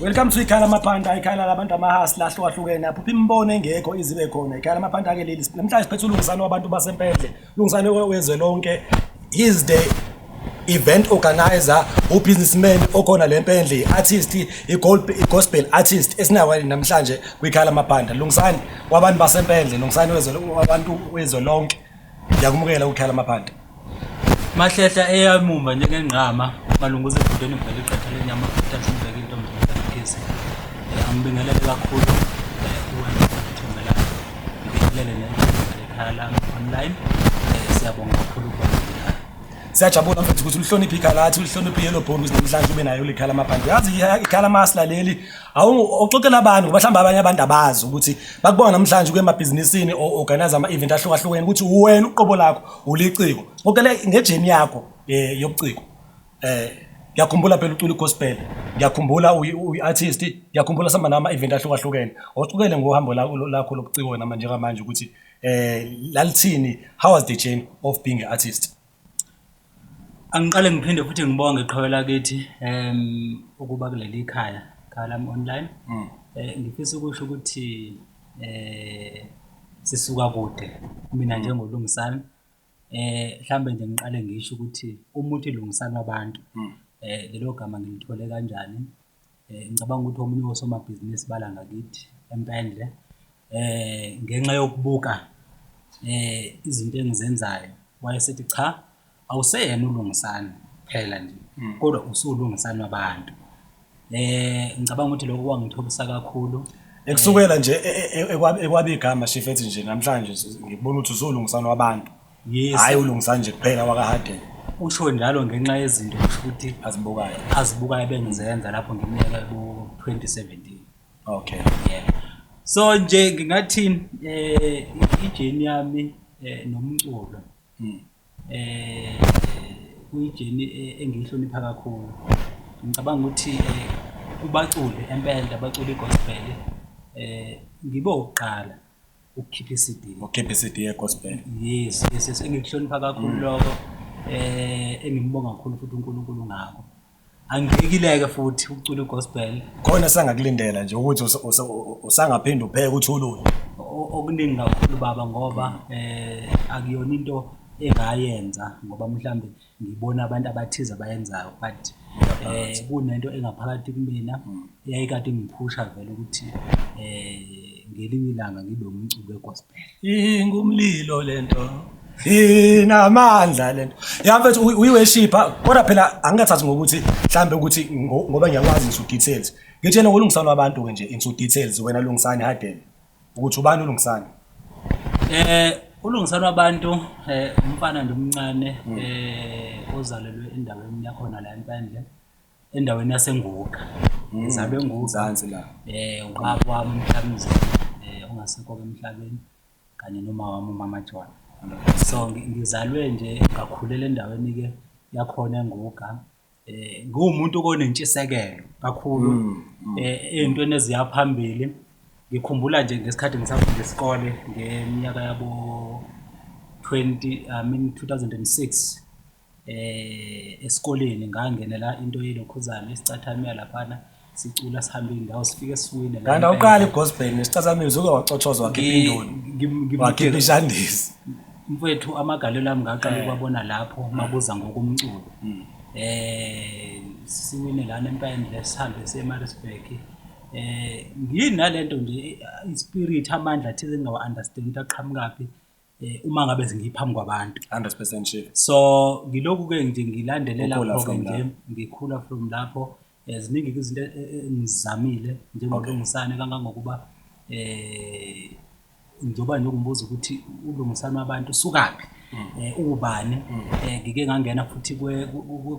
Welcome to ikhaya lamapanda ikhaya labantu amahasla ahlukahlukene aphupha imibono engekho izibe khona ikhaya lamapanda ke leli namhlanje siphethe ulungisani wabantu basempendle ulungisani wezwe lonke is the event organizer ubusinessman okhona le mpendle i-artist i-gospel artist esinayo namhlanje kwikhaya lamapanda lungisani wabantu basempendle lungisani wabantu wezwe lonke Ngiyakumukela ukuthala amaphanda. Mahlehla eyamuma njengengqama malunguza ebudeni ngibheke iqatha lenyama thatha ngibheke intombi ngibhekise. Eh, Angibingelele kakhulu eh, kuwe ngithembela. Ngibingelele nekhaya lami online. Eh, Siyabonga kakhulu ukuba ngikhaya. Siyajabula mfethu ukuthi ulihloniphe ikhaya lathi, ulihloniphe i-yellow bone ukuze namhlanje ube nayo likhala amaphanda. Yazi ikhala masla leli awu uxoxela abantu ngoba mhlawumbe abanye abantu abazi ukuthi bakubona namhlanje kuye emabhizinisini o-organize ama-event ahlukahlukene ukuthi wena uqobo lakho uliciko ngokele ngejeni yakho um yobuciko um ngiyakhumbula phela ucula igospel ngiyakhumbula uyi-artist ngiyakhumbula sihamba nawo ama-event ahlukahlukene ocukele ngohambo lakho lobuciko wena manje njengamanje ukuthi um lalithini how was the journey of being an artist Angiqale ngiphinde futhi ngibonge iqhawe lakithi ukuba kuleli khaya, Khaya lami Online. Ngifisa ukusho ukuthi sisuka kude mina njengoLungisani hlambe nje ngiqale ngisho ukuthi umuthi Lungisani wabantu lelo gama ngilithole kanjani. Eh, ngicabanga ukuthi omunye wosomabhizinisi bala ngakithi empendle eh ngenxa yokubuka eh izinto engizenzayo wayesethi cha awuseyena ulungisani phela nje hmm. kodwa usulungisani wabantu eh ngicabanga ukuthi lokho kwangithobisa kakhulu ekusukela nje e, e, e, ekwabe igama shifethi nje namhlanje ngibona ukuthi usulungisani wabantu Yes. Hhayi ulungisa nje kuphela wakaHarden. Usho njalo ngenxa yezinto kusho ukuthi Azibukayo. azibukayo ebengizenza lapho ngimyeka ku-2017. Okay. Yeah. So nje ngingathi eh ijeni yami eh nomculo Mm. eh kuyijeni eh, engiyihlonipha kakhulu. Ngicabanga ukuthi eh kubaculi empela abaculi gospel eh ngibe ukuqala ukukhipha iCD. Ukukhipha iCD yeGospel. Yes, yes, yes. Engikuhlonipha kakhulu mm. lokho. Eh engimbonga kakhulu futhi uNkulunkulu ngakho. Angiyekileke futhi ukucula iGospel. Khona sangakulindela nje ukuthi usangaphinda upheke uthulule. Okuningi kakhulu baba ngoba mm. eh akuyona into engayenza ngoba mhlambe ngibona abantu abathize abayenzayo but eh kunento engaphakathi kumina mm. eyayikade ingiphusha vele ukuthi eh ngelinye ilanga ngibe umculo wegospel ingumlilo lento inamandla lento yamfethu uyiweshipa kodwa phela angikathathi ngokuthi mhlambe ukuthi ngoba ngiyakwazi ngisu details ngitshela ukulungisana abantu ke nje into details wena lungisani hadeni Ukuthi ubani uLungisani? Eh uLungisani wabantu eh umfana nje omncane hmm. eh ozalelwe endaweni yakhona la eMpandle endaweni yaseNguka. Hmm. Ngizalwe eNguka. Mzansi la. Eh ubaba wami umhlambize eh ongasekho emhlabeni kanye noma wami umama Jwana. So ngizalwe nje ngakhulela endaweni ke yakhona eNguga eh ngumuntu onentshisekelo kakhulu mm, mm. eh ezintweni eziya phambili ngikhumbula nje ngesikhathi ngisafunda isikole ngeminyaka yabo 20 I mean 2006 eh esikoleni ngangenela into yelokhuzana isicathamela laphana sicula sihambe indawo sifike siwine kanti awuqali gospel nesicathamini uke wacothoza wakhipha indoni wakhipha ishandisi mfethu amagalelo ami ngaqala eh. ukwabona lapho eh. mabuza ngokumculo hmm. eh siwine lana empayeni lesihambe seMaritzburg eh ngiyini nalento nje ispirit amandla thize engawa understand aqhamukaphi eh, uma ngabe ngiphambi kwabantu 100% sure so ngiloku ke nje ngilandelela lokho nje ngikhula from lapho eh, ziningi izinto eh, eh, engizamile njengolungisane kangangokuba eh njengoba nje ngumbuza ukuthi ulungisana abantu sukaphi mm. eh ubani mm. eh ngike ngangena futhi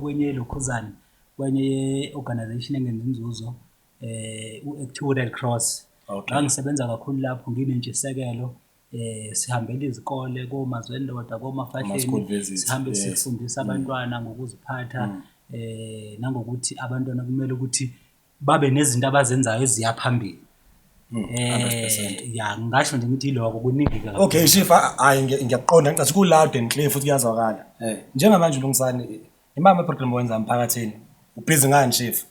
kwenye lokhuzana kwenye organization engenza inzuzo eh u-Active Red Cross ngangisebenza kakhulu lapho nginentshisekelo eh sihambela izikole koma zendoda koma fahleni sihambe sifundisa mm. abantwana ngokuziphatha mm. eh nangokuthi abantwana kumele ukuthi babe nezinto abazenzayo eziya phambili mm, eh ya ngasho nje ukuthi iloko kuningi kakhulu okay shifa hayi ngiyakuqonda ngicathi kulado and clear futhi kuyazwakala eh. njengamanje ulungisani Imama problem wenza emphakathini. Ubhizi ngani chief?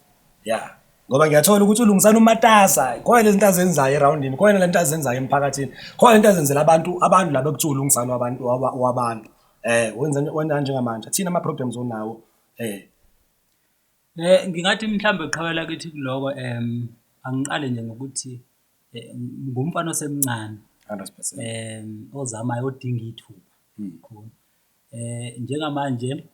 Yeah. Ngoba ngiyathola ukuthi ulungisana umatasa. Khona lezi zinto azenzayo eroundini, khona lento azenzayo emphakathini. Khona lento azenzela abantu, abantu laba kuthiwa ulungisana wabantu waba- wabantu. Eh, wenza wenza njengamanje. Thina ama problems onawo. Eh, Eh ngingathi mhlambe qhawela kithi kuloko em angiqale nje ngokuthi eh, ngumfana osemncane 100%. em ozamayo odinga ithuba. Khona. Njengamanje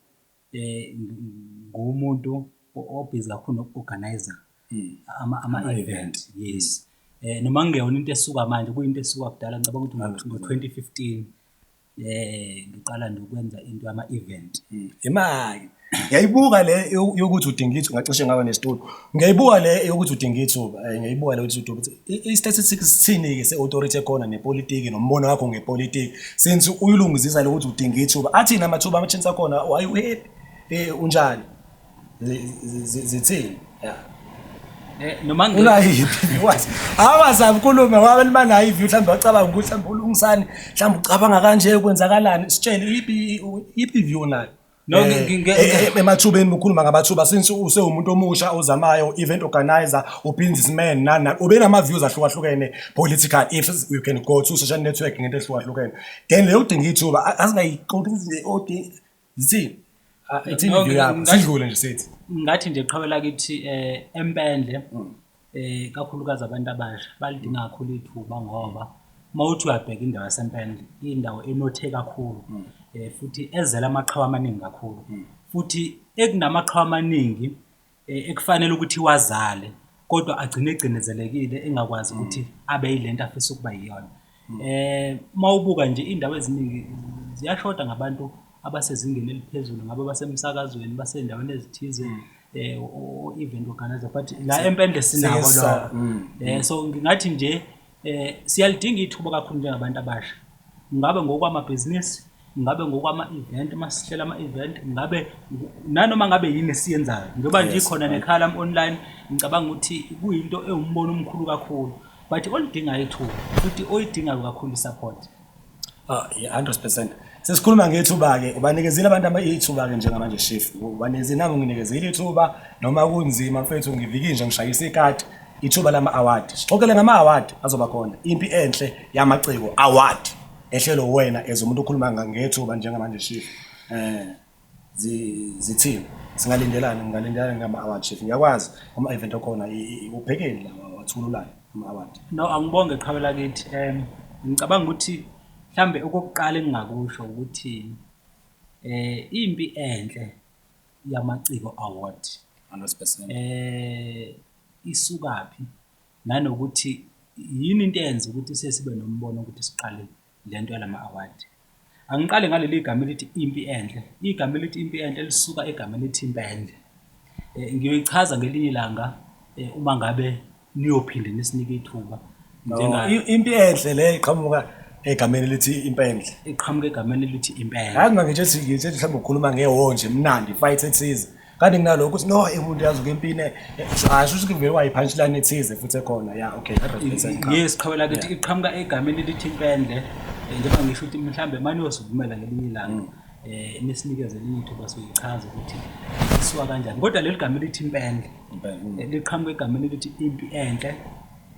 nguwumuntu obhizi kakhulu noku-organise-a ama-event, yes. Noma kungeyona into esuka manje, kuyinto esuka kudala, ngicabanga ukuthi ngo-twenty fifteen ngiqala nje ukwenza into yama-event. Imali, Ngiyayibuka le yo- yokuthi udinga ithuba ngacishe ngawe nesitulo. Ngiyayibuka le yokuthi udinga ithuba. Eh, Ngiyayibuka le yokuthi udinga ithuba. I-statistics sithini-ke se-authority ekhona nepolitiki nombono wakho ngepolitiki. Since uyilungizisa le ukuthi udinga ithuba. Athini amathuba ama-chance akhona? Oh, Are you happy? Eh, Unjani? Zi- zi- zi- Zithini? Yeah. Eh, noma ngi- unayiphi viewers awazabi khulume wabe libanayo iview mhlawumbe wacabanga ukuthi mhlawumbe ulungisani mhlawumbe ucabanga kanje kwenzakalani sitshele iphi iphi view nayo No, ngi- ngi- ngi- Eh, eh, emathubeni ukhuluma ngamathuba since usewumuntu omusha ozamayo event organizer ubusinessman nana ubenama views ahlukahlukene political if you can go to social network ngento ehlukahlukene then leyo kudinga ithuba a- asingayiqondi ukuthi odi zithini Ah, ithini no, view ngi- yakho ngi- sidlule nje sithi ngathi nje qhawela kithi eh empendle Eh kakhulukazi abantu abasha balidinga kakhulu ithuba ngoba mawuthi uyabheka indawo yaseMpendle indawo enothe kakhulu mm. eh futhi ezela amaqhawe amaningi kakhulu mm. futhi ekunamaqhawe amaningi eh, ekufanele ukuthi wazale kodwa agcine egcinezelekile engakwazi mm. ukuthi abe yilento afisa ukuba yiyona Uma ubuka nje iy'ndawo eziningi ziyashoda ngabantu abasezingeni eliphezulu, ngabe basemsakazweni, basey'ndaweni ezithize o-event organiser but la eMpendle sinabo laba. Mm. So ngingathi nje siyalidinga ithuba kakhulu njengabantu abasha, ngabe ngokwamabhizinisi ngabe ngokwama-event uma sihlela ama-event ngabe nanoma ngabe yini esiyenzayo njengoba nje ikhona nekhala online ngicabanga ukuthi kuyinto ewumbono omkhulu kakhulu but olidingayo ithuba futhi oyidingayo kakhulu i-support ah, hundred percent sesikhuluma ngethuba-ke ubanikezile abantu ithuba-ke njengamanje shif ubanikezile nami nginikezile ithuba noma kunzima mfethu ngivikile nje ngishayisa ikati ithuba lama-award sixoxele ngama-award azoba khona impi enhle yamaciko award ehlelo wena as umuntu okhuluma ngethuba njengamanje chief eh zithini singalindelani ngingalindelani ngama award chief ngiyakwazi ama event okhona ubhekeni la wathululana ama award no angibonge qhawela kithi em ngicabanga ukuthi mhlambe okokuqala engingakusho ukuthi eh impi enhle yamaciko award 100% eh isukaphi Nanokuthi yini into eyenza ukuthi siye sibe nombono ukuthi siqale le nto yalama-award. Angiqale ngaleli gama elithi impi enhle. Igama elithi impi enhle lisuka egama elithi impendle. Eh, ngiyoyichaza ngelinye ilanga eh, uma ngabe niyophinde nisinike ithuba. Impi enhle le iqhamuka egameni elithi impendle iqhamuka egameni elithi impendle hayi ngangitshe ngitshe mhlawumbe ukhuluma ngehonje mnandi fight ethize kanti kunalokho ukuthi no eh, umuntu yazi ukempini eh, eh, asho ukuthi kuvele wayiphantshilane ethize futhi ekhona ya okay yes qhawela ukuthi iqhamuka egameni elithi impende njengoba ngisho ukuthi mhlawumbe mani yosivumela ngelinye ilanga um nisinikeze elinye ithuba soyichaza ukuthi isiwa kanjani kodwa leli gama elithi impende liqhamuka egameni elithi impi enhle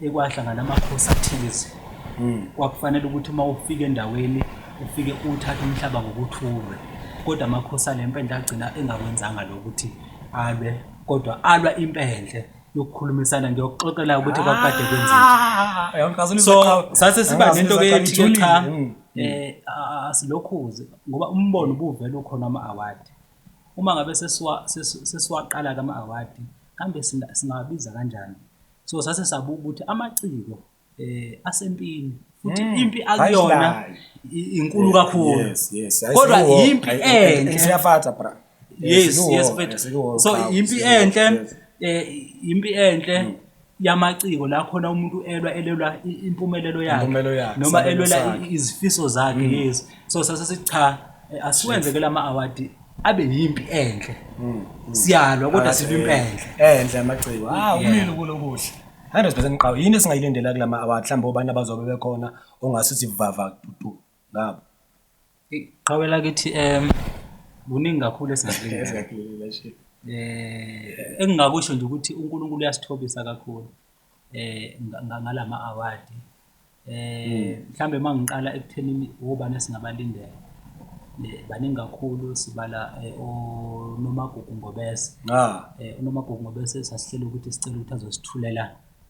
ekwahlangana amakhosi athize hmm. kwakufanele ukuthi uma ufika endaweni ufike uthathe umhlaba ngokuthulwe kodwa amakhosi ale mpendle agcina engakwenzanga lokuthi alwe kodwa alwa impendle yokukhulumisana ngiyokuxoxela ukuthi kwakade kwenzekile so sase siba nento ke ethi cha hmm. eh asilokhuze ngoba umbono ubuvela ukhona ama award uma ngabe sesiwa sesiwaqala kama award kambe singabiza kanjani so sase sabuka ukuthi amaciko eh asempini futhi hmm. impi akuyona inkulu kakhulu kodwa impi enhle siyafatha bra yes yes so impi enhle eh impi enhle hmm. yamaciko la khona umuntu elwa elelwa impumelelo yakhe noma elwela izifiso zakhe hmm. yes so sase sicha eh, asiwenze ke lama award abe yimpi enhle mm, mm. siyalwa kodwa sibe impi enhle enhle amaciko ah umile kulo kuhle 100% ngiqawo yini esingayilindela kulama award mhlawumbe obani abazobe bekhona ongase sivava tutu ngabo iqhawela kithi em kuningi kakhulu esingakulindela eh engingakusho nje ukuthi uNkulunkulu uyasithobisa kakhulu eh ngalama award eh hmm. mhlambe mangiqala ekuthenini obani singabalindela eh, baningi kakhulu sibala eh, onomagugu ngobese ah. eh, unomagugu ngobese sasihlela ukuthi sicela ukuthi azosithulela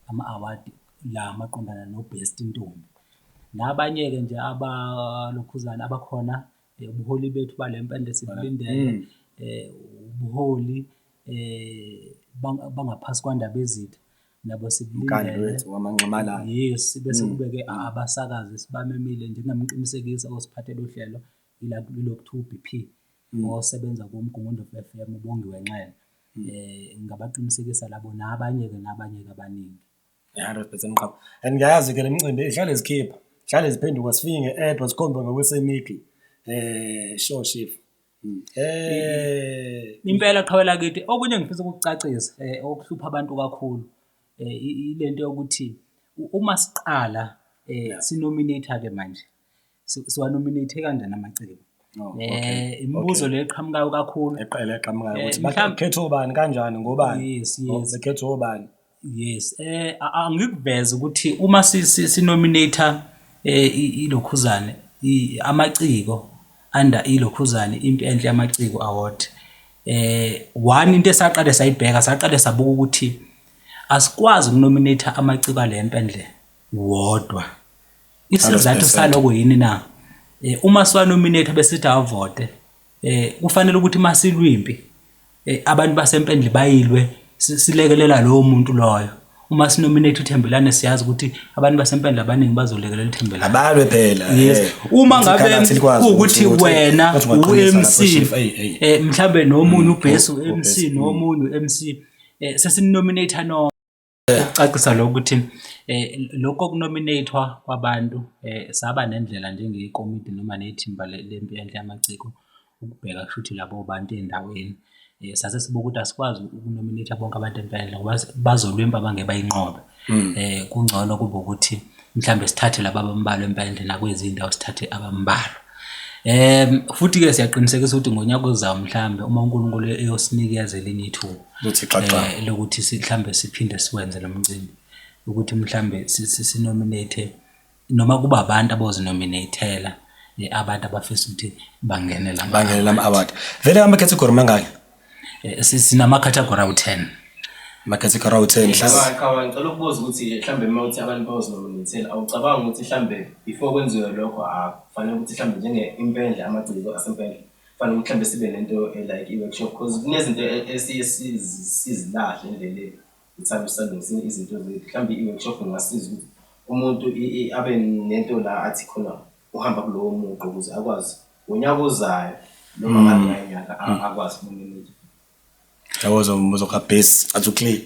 ama award la maqondana no best intombi nabanye ke nje abalokhuzana abakhona eh, ubuholi bethu balempende sibulindele mm. eh ubuholi eh bangaphasi kwandaba ezitha nabo sibulindele yes bese mm. kubeke abasakazi sibamemile njengamqinisekisa osiphathele uhlelo ila kulokhu 2 BP mm. osebenza kumgungundo FM ubongiwe nxele eh ngabaqinisekisa labo nabanye ke nabanye kabaningi 100 percent qaba and ngiyayazi ke le micimbi ihlale zikhipha hlale ziphenduka sifike nge-edwa sikhombe ngokwesemigli um eh, sure shif hmm. eh, impela qhawela kithi okunye ngifisa ukukucacisa um okuhlupha abantu kakhulu um ile nto yokuthi uma siqala um sinominate-a-ke manje si- siwanominate kanjani amaciko Oh, um okay. imibuzo Okay. le eqhamukayo kakhulu eqela eqhamukayo Eh, ukuthi mhlampe- bakhetha obani kanjani ngobani yes Oh, yes bekhetha obani yes eh a- angikuveze ukuthi uma si- si- sinominate eh i- ilokhuzane i- amaciko under ilokhuzane impi enhle yamaciko award eh one into esaqale sayibheka saqale sabuka ukuthi asikwazi ukunominate amaciko alempe nje wodwa Isizathu saloko yini na? Eh, uma siwanominate besithi avote eh, kufanele ukuthi masilwimpi eh, abantu basempendle bayilwe silekelela lowo muntu loyo uma sinominate uthembelane siyazi ukuthi abantu basempendle abaningi bazolekelela uthembelane abalwe phela yes uma ngabe ukuthi wena uMC eh mhlambe nomunye mm, ubhesu uMC nomunye uMC sesinominate no Ukucacisa lokho ukuthi lokho kunominathwa kwabantu saba nendlela njengekomidi noma nethimba lempi enhle yamaciko ukubheka kushuthi labo bantu endaweni. Sase sibuka ukuthi asikwazi ukunominatha bonke abantu ngoba bazolwempu abangeke bayinqobe. Kungcono kube ukuthi mhlambe sithathe laba abambalwa empande nakwezinye indawo sithathe abambalwa um futhi-ke siyaqinisekisa ukuthi ngonyaka ozayo mhlawumbe uma unkulunkulu eyosinikeza elinye ithuba eh, lokuthi mhlawumbe siphinde siwenze lo mcimbi ukuthi mhlawumbe sinominate noma kuba abantu abozinominatela eh, abantu abafisa ukuthi bangenele bangenele ama-award vele ama-category mangaki Eh, sinama-category awu-ten ama-category awu-ten mhlawumbe ngicela ukubuza ukuthi mhlawumbe uma uthi abantu bawuzomonithela awucabanga ukuthi mhlawumbe before kwenziwe lokho akufanele ukuthi mhlawumbe njenge-impendle amagciko asempendle kufanele ukuthi mhlawumbe sibe nento eh, like i-workshop because kunezinto e-, esiye sizilahle endleleni ngithanda ukusandisa izinto zethu mhlawumbe i-workshop ingasiza ukuthi umuntu abe nento la athi khona uhamba kulowo muqo ukuze akwazi ngonyaka ozayo noma ngabe mm. nganyaka mm. akwazi umuntu yabo zomuzokha base athi uclear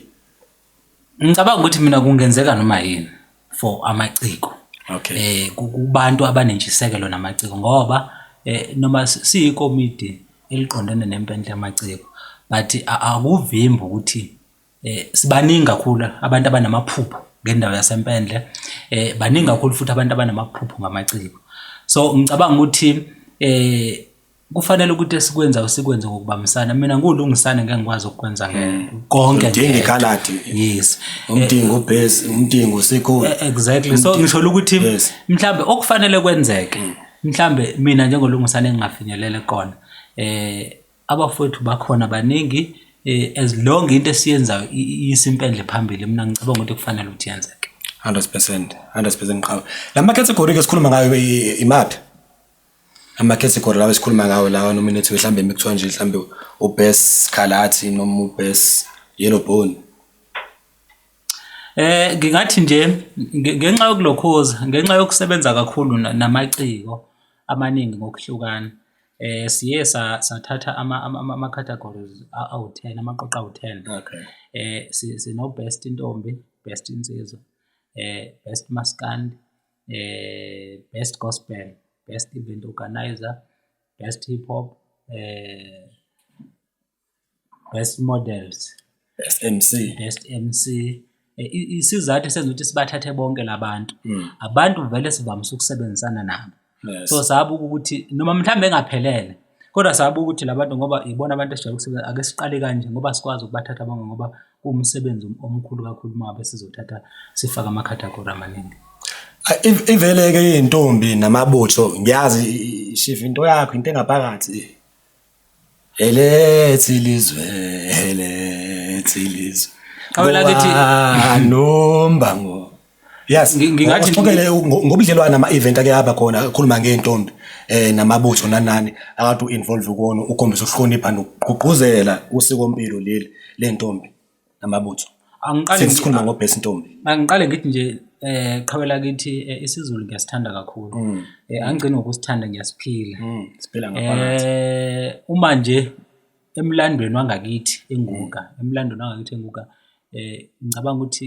ngicabanga ukuthi mina kungenzeka noma yini for amaciko okay eh kubantu abanentshisekelo namaciko ngoba eh noma siyikomidi eliqondene nempendle yamaciko but akuvimbi ukuthi Eh, sibaningi kakhulu abantu abanamaphupho ngendawo yasempendle eh, baningi kakhulu futhi abantu abanamaphupho ngamaciko so ngicabanga ukuthi eh, kufanele ukuthi esikwenzayo sikwenze ngokubambisana mina ngulungisane ngeke ngikwazi ukukwenza hmm. konke udinga ikhaladi yes umdingo ubase umdingo usekhona e-, exactly so ngisho ukuthi mhlambe okufanele kwenzeke hmm. mhlambe mina njengolungisane engingafinyelele kona eh Abafowethu bakhona baningi eh, as long into esiyenzayo i- i- iyisa impendle phambili mina ngicabanga ukuthi kufanele ukuthi yenzeke 100% 100% qhawe lama category ke sikhuluma ngayo i- imaphi ama category lawa esikhuluma ngawo lawa nominative mhlambe mikuthiwa nje mhlambe ubest kalathi noma ubest yellow bone Eh ngingathi nje nge- ngenxa yokulokhoza ngenxa yokusebenza kakhulu na- namaciko amaningi ngokuhlukana Siye sathatha ama-categories awu-ten, amaqoqo awu-ten. Okay. Sino-best ntombi, best nsizwa, best maskandi, best gospel, best event organiser, best hip hop . Best Models, Best MC. Best MC. Eh, i- Isizathu esenza ukuthi sibathathe bonke labantu. Mm. Abantu vele sivamise ukusebenzisana nabo. Yes. So sabe ukuthi noma mhlawumbe engaphelele kodwa sabe ukuthi labantu ngoba ibona abantu esijwayele ukusebenza ake siqale kanje ngoba sikwazi ukubathatha bonke ngoba kuwumsebenzi om- omkhulu kakhulu uma ngabe sizothatha sifake ama-category amaningi. Ah, iv- Ivele-ke iy'ntombi namabutho ngiyazi i- i- shiva into yakho into engaphakathi. Elethu ilizwe, elethu ilizwe. Qhawe lakithi. Bowa nombango. Yes, Ngi- ngingathi- uqhubele ngo- ngobudlelwane ama-event ake aba khona akhuluma ngey'ntombi um namabutho nanani akade u-involve kuwona ukhombisa ukuhlonipha nokugqugquzela usikompilo leli ley'ntombi. namabutho angiqale sikhuluma ngobest ntombi angiqale ngithi nje eh qhawe lakithi eh, isizulu ngiyasithanda kakhulu mm. eh angigcini ngokusithanda ngiyasiphila mm, siphila ngaphakathi eh uma nje emlandweni wangakithi enguka mm. emlandweni wangakithi enguka eh ngicabanga ukuthi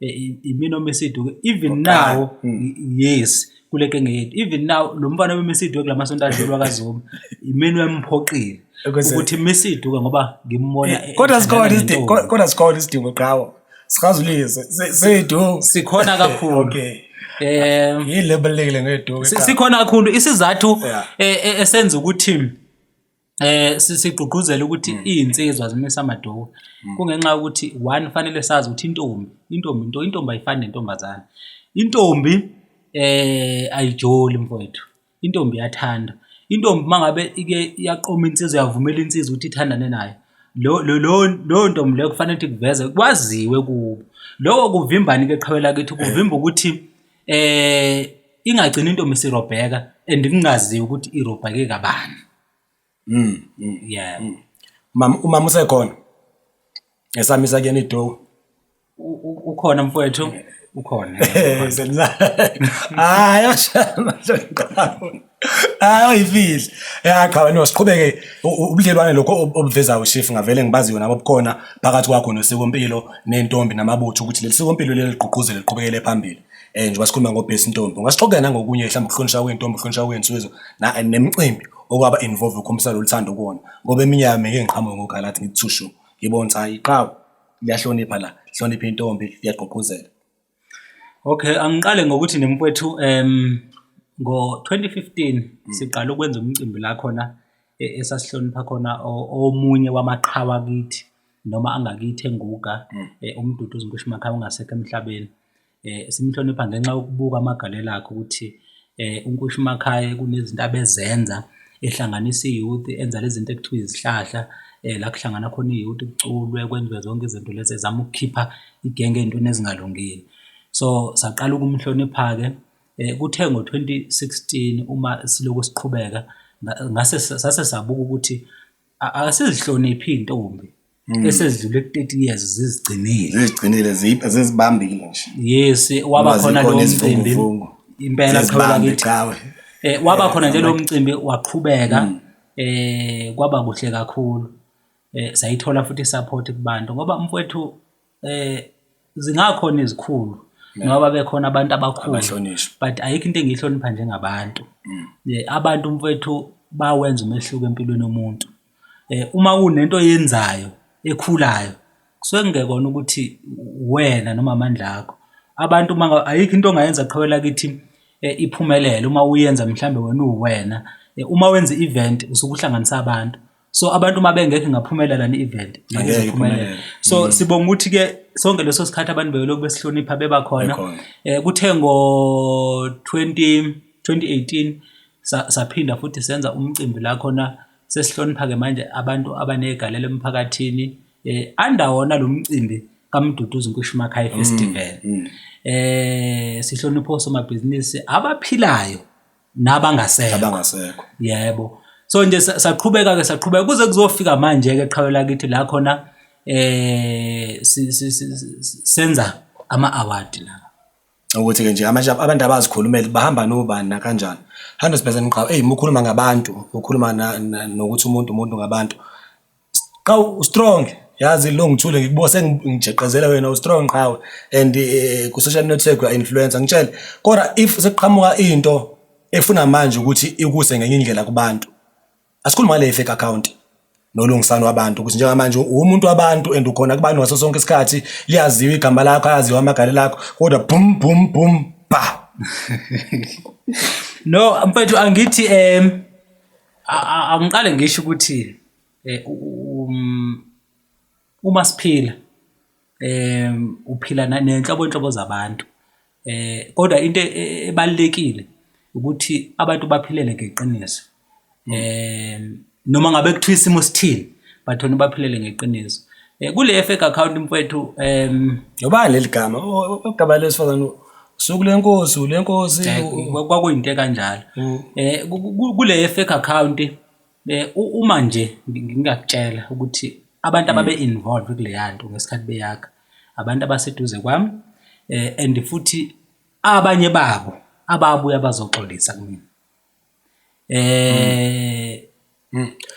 eh, imina omesiduke even now hmm. yes kule kenge yethu even now lo mfana wemesiduke kula masonto adlulwa kazoma imina uyamphoqile ukuthi mesiduke ngoba ngimbona eh, kodwa sikhona isidingo kodwa sikhona isidingo qhawo sikhazulise seyidu sikhona kakhulu okay eh yile balekile ngeduke sikhona kakhulu isizathu eh, esenza ukuthi Eh sigqugquzela ukuthi mm. izinsizwa zimisa amadowu mm. kungenxa ukuthi one fanele sazi ukuthi intombi intombi into intombi ayifani nentombazana intombi eh ayijoli mfowethu intombi iyathanda intombi mangabe ike yaqoma insizwa yavumela insizwa ukuthi ithandane nayo lo lo lo ntombi leyo kufanele ukuthi kuveze kwaziwe kubo lokho kuvimbani ke qhawela kithi kuvimba ukuthi ingagcina intombi sirobheka and kungaziwa ukuthi irobheke kabani mm, mm. yeah mm. mama umama usekhona esamisa kuyena idowu ukhona mfowethu ukhona hayi ashana hayi oyifihli ya cha wena siqhubeke u- u- ubudlelwane lokho ob- obuveza ushifu ngavele ngibaziyo nabo bukhona phakathi kwakho nosikompilo nentombi namabutho ukuthi leli sikompilo leli ligqugquzele liqhubekele phambili um njengoba sikhuluma ngobhesi intombi ungasixoxela nangokunye mhlawumbe ukuhlonishwa kwentombi ukuhlonishwa kwensizwa na- nemicimbi okwaba involve ukhombisa lolu thando kuwona ngoba eminye yami ngeke ngiqhamuke ngogalathi ngithushu ngibona ukuthi hayi qhawu liyahlonipha la lihlonipha intombi liyagqugquzela Okay, angiqale ngokuthi nemfwethu em ngo-2015 hmm. siqala ukwenza umcimbi la khona e, esasihlonipha khona omunye wamaqhawa kithi noma angakithi enguga hmm. e, umdudu uzinkushi makhaya ungasekho emhlabeni um simhlonipha ngenxa yokubuka amagalelo akhe ukuthi UNkoshimakhaye kunezinto abezenza ehlanganisa i-youth enza le zinto ekuthiwa izihlahla la kuhlangana khona i-youth kuculwe kwenziwe zonke izinto lezi ezama ukukhipha igenge ey'ntweni ezingalungile. So, saqala ukumhlonipha-ke kuthe ngo-twenty sixteen uma silokhu siqhubeka ngase sase sabuka ukuthi akasazihloniphi iy'ntombi. Mm. esedlule ku-30 years zizigcinile zizigcinile zizibambile nje yes waba khona lo mcimbi impela qhawula kithi eh waba eh, khona nje lo mcimbi waqhubeka mm. eh kwaba kuhle kakhulu eh sayithola futhi support kubantu ngoba mfowethu Zingakhona izikhulu noma babe khona abantu abakhulu but ayikho into engiyihlonipha njengabantu. Abantu mfwethu bayawenza umehluko empilweni yomuntu. Uma kunento oyenzayo ekhulayo kusuke kungekona ukuthi uwena noma amandla akho. Abantu uma ayikho into ongayenza qhawe lakithi iphumelele uma uyenza mhlawumbe wena uwuwena. Uma wenza i-event usuke uhlanganisa abantu. so abantu uma bengekho ingaphumela lani event ngeke iphumelele so mm. sibonga ukuthi ke sonke leso sikhathi abantu beyolokhu besihlonipha beba khona eh kuthe ngo 20 2018 saphinda futhi senza umcimbi la khona sesihlonipha ke manje abantu abanegalelo emphakathini eh anda wona lo mcimbi kaMduduzi Nkushimaka High mm, Festival mm. eh sihlonipha osomabhizinisi abaphilayo nabangasekho nabangasekho yebo so nje saqhubeka ke saqhubeka kuze kuzofika manje ke qhawe lakithi la khona eh senza ama award la ukuthi ke nje amanje abantu abazikhulumeli bahamba nobani na kanjani 100% qhawe hey mukhuluma ngabantu ukhuluma nokuthi umuntu umuntu ngabantu Qawu u strong yazi lo ngithule ngikubo sengijeqezela wena u strong qhawe and eh, ku social network you are influencer ngitshele kodwa if sekuqhamuka into efuna manje ukuthi ikuse ngenye indlela kubantu asikhuluma ngale fake account nolungisano wabantu ukuthi njengamanje uwumuntu wabantu and ukhona kubantu ngaso sonke isikhathi liyaziwa igama lakho ayaziwa amagale lakho kodwa bum bum bum ba no mfethu angithi em angiqale ngisho ukuthi eh, um, uma siphila eh uphila nenhlobo inhlobo zabantu eh kodwa into e, e, ebalekile ukuthi abantu baphilele ngeqiniso eh noma ngabe kuthiwa isimo sithini bathona baphilele ngeqiniso eh kule fake account mfethu em yobani leligama ogaba lesifazana Suku lenkosi ulenkosi kwakuyinto ekanjalo. Mm. Eh kule fake account eh, uma nje ngingakutshela ukuthi abantu mm. ababe involved kuleya nto ngesikhathi beyakha abantu abaseduze kwami eh and futhi abanye babo ababuya bazoxolisa kumina. eh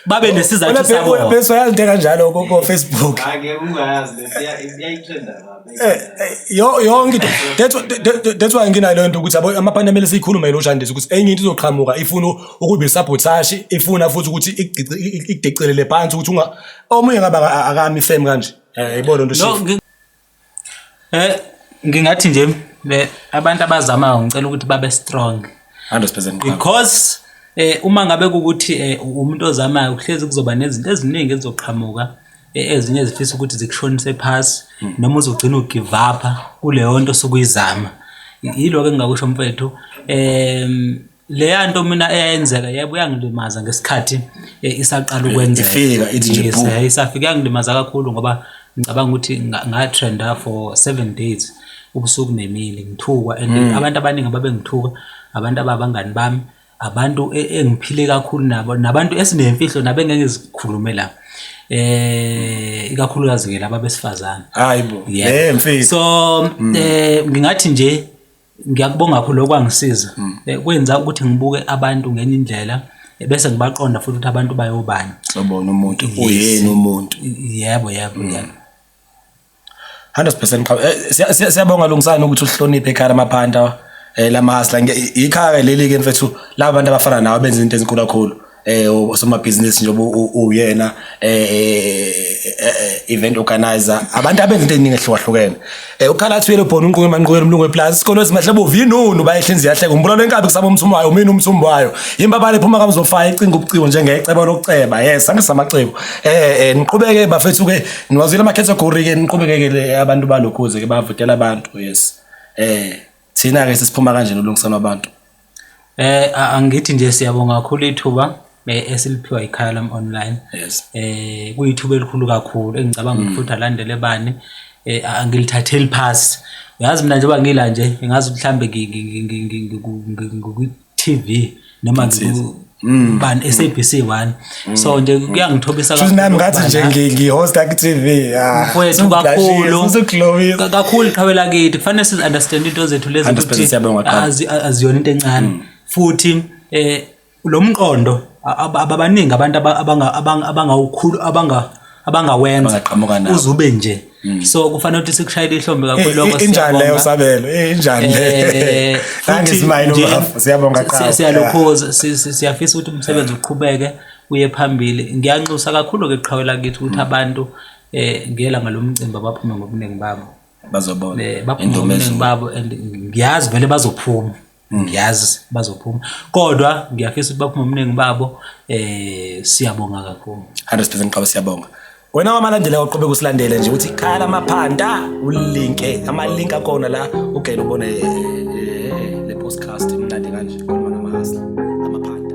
babe nesizathu sabo Wena bese uyalinde kanjalo ko ko Facebook. Ake ungayazi lento iya- iyayitrenda kabi. Eh, eh, yo- yonke into that's why- that- that- that's why nginaleyo nto ukuthi yabo amaphani amele siyikhulume yilo shandisi ukuthi enye into izoqhamuka ifuna ukuba isabotage ifuna futhi ukuthi igcici- i- i- ikudecelele phansi ukuthi unga omunye ngabe aka- akami fame kanje Eh, yibona nto No, shit ngi- Eh ngingathi nje abantu abazamayo ngicela ukuthi babe strong 100% because eh uma ngabe ukuthi eh, umuntu ozamayo kuhlezi kuzoba nezinto eziningi ezizoqhamuka eh, ezinye zifisa ukuthi zikushonise phasi hmm. noma uzogcina ugive up kuleyo nto sukuyizama yiloko engingakusho mfethu em Leya nto mina eyayenzeka yebo yangilimaza ngesikhathi eh, isaqala ukwenzeka. Ifika ithi nje Yes, boom. eh, isafika yangilimaza kakhulu ngoba ngicabanga ukuthi nga- ngatrenda for seven days ubusuku nemini ngithukwa and Mm. abantu abaningi ababengithuka abantu ababangani bami abantu e- engiphile kakhulu nabo nabantu esinemfihlo nabengeke zikhulume la eh ikakhulukazi ke laba besifazane Hayi bo. Yebo. Eh mfethu. so eh ngingathi nje Ngiyakubonga kakhulu lokho kwangisiza. Mm. Eh, kwenza ukuthi ngibuke abantu ngenye indlela eh, bese ngibaqonda futhi ukuthi abantu bayobani. Sobona umuntu uyini umuntu. Yebo yebo mm. yebo. 100% qhawe. Eh, siyabonga lungisani ukuthi uhloniphe ekhaya lamaphanda eh lamahasla ikhaya leli ke mfethu laba bantu abafana nawe benza into ezinkulu kakhulu. eh osomabhizinisi njengoba uyena eh, eh, eh event organizer abantu abenza into eziningi ehlukahlukene eh ukhala athuyele ubhona unquke manquke umlungu weplaza isikole esimahle bovu yinunu bayehlinzi yahleka umbulalo enkabi kusaba umthumbu wayo mina umthumbu wayo impabale phuma kamzofaya icinga ubuciko njengecebo lokuceba yes angithi samacebo eh, eh niqhubeke bafethu ke niwazile ama category ke niqhubeke ke abantu balokhuze ke bavotela abantu yes eh thina ke sisiphuma kanjena ulungisana abantu Eh angithi nje siyabonga kakhulu ithuba eh, esiliphiwa ikhaya lam online. Yes. Eh kuyithuba elikhulu kakhulu engicabanga mm. ukuthi alandele bani eh angilithatheli phasi. Uyazi mina njengoba ngila nje ngazi mhlambe ngi TV noma Mm. ban SABC 1 mm. so nje mm. kuyangithobisa kakhulu nami ngathi nje ngihost ku TV mfowethu kakhulu kakhulu qhawela kithi kufanele siz understand into zethu lezi ukuthi aziyona into encane futhi eh lo mqondo ababaningi abantu abangawukhulu abanga abangawenza Abangaqhamuka nawo. uzube nje so kufanele ukuthi sikushayele ihlombe kakhulu lokho injani leyo sabelo Eh, injani Eh, futhi nangizimayile nje, ubafo siyabonga siya- qhawe siyalokhoza si- si- siyafisa ukuthi umsebenzi uqhubeke uye phambili ngiyanxusa kakhulu ke qhawe lakithi ukuthi abantu eh ngela ngalomcimbi abaphume ngobuningi babo bazobona Eh, baphume ngobuningi babo and ngiyazi vele bazophuma ngiyazi bazophuma kodwa ngiyafisa ukuthi baphume omningi babo eh siyabonga kakhulu 100% qaba siyabonga wena wamalandela uqhube kusilandele nje uthi khaya lamaphanda ulinke amalink akona la ugele ubone eh, eh, le podcast imnandi kanje khuluma namahasla amaphanda